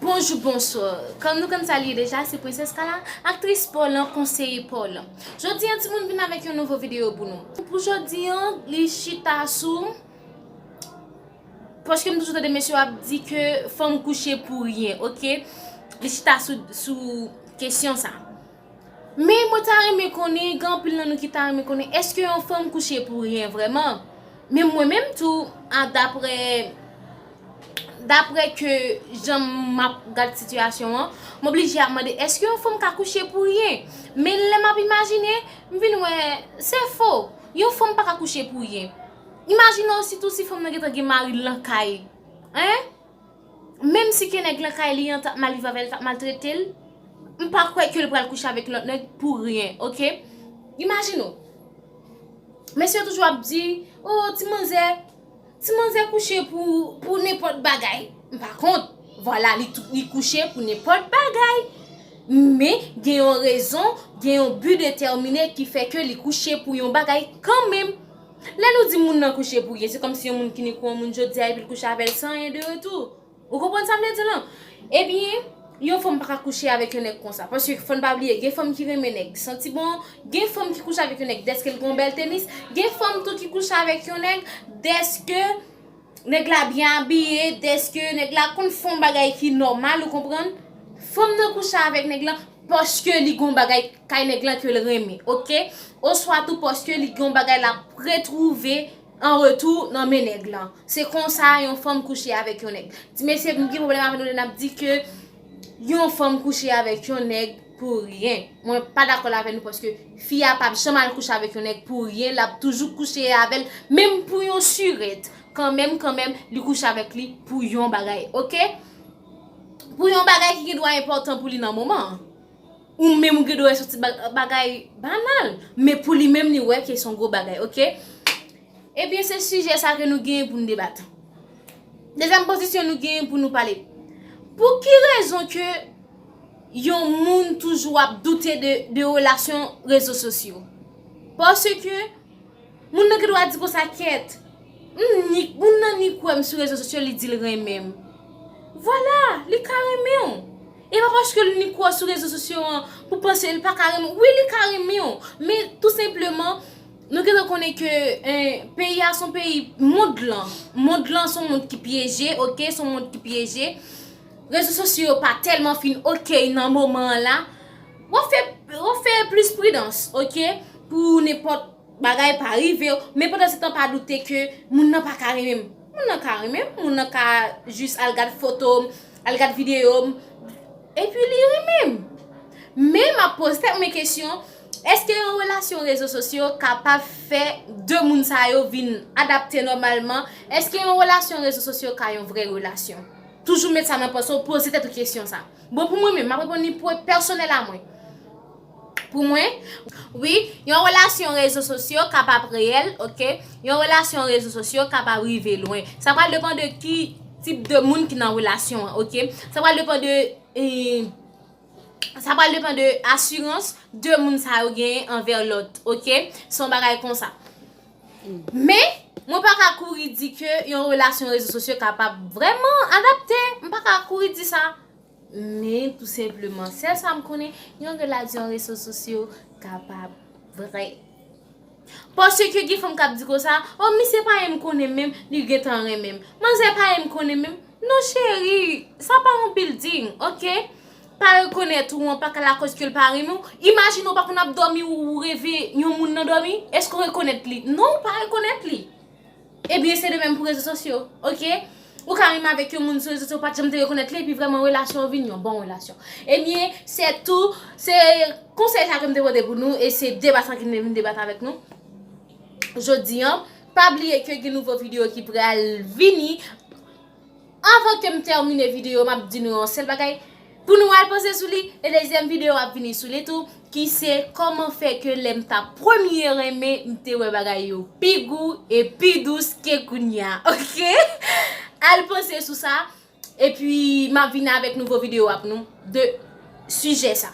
Bonjou bonswa Kòm nou konn sa li ye deja se Princesse Kala Aktris paw lan konseye paw lan Jodi an timoun vin avèk yon nouvo videyo pou nou Pou jodi an li chita sou Paske m toujou tande mesye yo ap di ke fanm kouche pou ryen ok Li chita sou kesyon sa Men mwen ta renmen konnen, gen anpil nan nou ki ta renmen konnen, eske yon fanm kouche pou ryen vreman? Men mwen menm tou, a dapre, dapre ke jan m ap gad sitiyasyon an, m oblije ap mande, eske yon fanm ka kouche pou ryen? Men lè m ap imajine, m vin wè, se fo, yon fanm pa ka kouche pou ryen. Imajine osi tou si fanm nan gen tan gen mari l lan kay. Hein? Menm si ke nèg lan kay li an tap mal viv avèl tap maltretel m pa kwè kel pral kouche avèk lòt nèg pou ryen ok imajine w mesye yo toujou ap di oh ti manzè ti manzè kouche pou nenpòt bagay m pa kont vwala li kouche pou nenpòt bagay men gen yon rezon gen yon bi detèmine ki fè ke li kouche pou yon bagay kanmenm Lè nou di moun nan kouche pou ryen, se kòmsi yon moun fini kou yon moun jodi a epi l kouche avè l san anyen de retou. Ou konprann sa m vle di lan? Ebyen, yon fanm pa ka kouche avèk yon nèg konsa. Paske fò n pa bliye, gen fanm ki renmen nèg ki santi bon, gen fanm ki kouche avèk yon nèg dèske l gen yon bèl tenis, gen fanm tou ki kouche avèk yon nèg dèske. Nèg la byen abiye, dèske nèg la konn fè yon bagay ki nòmal ou konprann, fanm nan kouche avèk nèg lan paske li gen yon bagay kay nèg lan ke l renmen ok, oswa tou paske li gen yon bagay l ap retwouve an retou nan men nèg lan, se konsa yon fanm kouche avèk yon nèg. Ti mesye m gen pwoblèm avè nou lè n ap di ke yon fanm kouche avèk yon nèg. Pou ryen Mwen pa dakol avè nou paske fi a pap janm al kouche avèk yon nèg pou ryen lap toujou kouche avèl menm pou yon surèt kanmenm kanmenm li kouche avèk li pou yon bagay ok pou yon bagay ki gendwa enpòtan pou li nan moman an ou menm ou gendwa wè son ti bagay banal men pou li menm li wè ke son gwo bagay ok ebyen se sijè sa ke nou gen pou nou debat dezyèm pozisyon nou gen pou nou pale pou ki rezon ke yon moun toujou ap doute de relasyon rezo sosyo. Paske, moun nan gen dwa di konsa kèt, moun nan ni kwè m sou rezo sosyo li di l renmen m. Vwala, li ka renmen w. E pa paske l ni kwè w sou rezo sosyo an pou w panse l pa ka renmen w. Wi li ka renmen w, men tou senpleman nou gen dwa konnen ke peyi a son peyi, mond lan, mond lan son mond ki pyeje, ok, son mond ki pyeje. Rezo sosyo yo pa telman fin ok nan moman an la, wap fè wap fè plis pridans ok pou nenpòt bagay pa rivew, men pandan se tan pa doute ke moun nan paka renmenm, moun nan ka renmenm, moun nan ka jis al gad fotom, al gad videom epi li renmenm. Men map poze tèt mwen kesyon, eske yon relasyon rezo sosyo kapab fè 2 moun sa yo vin adapte nòmalman, eske yon relasyon rezo sosyo ka yon vrè relasyon? Toujou met sa nan panse w, poze tèt ou kesyon sa. Bon pou mwen menm, m ap reponn li pwen pèsonèl a mwen. Pou mwen. Wi, yon relasyon rezo sosyo ka pa reyèl, ok. Yon relasyon rezo sosyo ka pa rive lwen. Sa pral depan de ki tip de moun ki nan relasyon an, ok. Sa pral depan de, sa pral depan de asirans de moun sa yo genyen anvè lòt, ok. Se yon bagay konsa. Men, mwen pa ka kouri di ke yon relasyon rezo sosyo kapab vrèman adapte. M pa ka kouri di sa. Men, tou senpleman, sèl sa m konnen, yon relasyon rezo sosyo kapab vre. Paske gen fanm k ap di konsa, o misye pa menm konnen m menm, li gentan renmen m. Manzè pa menm konnen m menm. Non cheri, sa pa yon bilding, ok? pa rekonèt ou an pa ka lakòz ke l pa renmen w, imajine ou pa konn ap dòmi ou reve yon moun nan dòmi, èske ou rekonèt li? Non ou pa rekonèt li. Ebyen se de menm pou rezo sosyo ok, ou ka renmen avèk yon moun sou rezo sosyo ou pat janm te rekonèt li epi vrèman relasyon an vin yon bon relasyon. Ebyen se tou, se konsèy sa ke m te pote pou nou e se deba sa ke m te vin debat avèk nou jodi an, pa bliye ke gen nouvo videyo ki pral vini. Avan kem tèmine video map di nou yon sèl bagay pou nou al panse sou li e dezyèm video ap vini sou li tou ki se kòman fè ke lèm ta premye renmen m te wè bagay yo pi gou e pi dous ke kounya ok al panse sou sa epi map vini avèk nouvo video ap nou de sijè sa.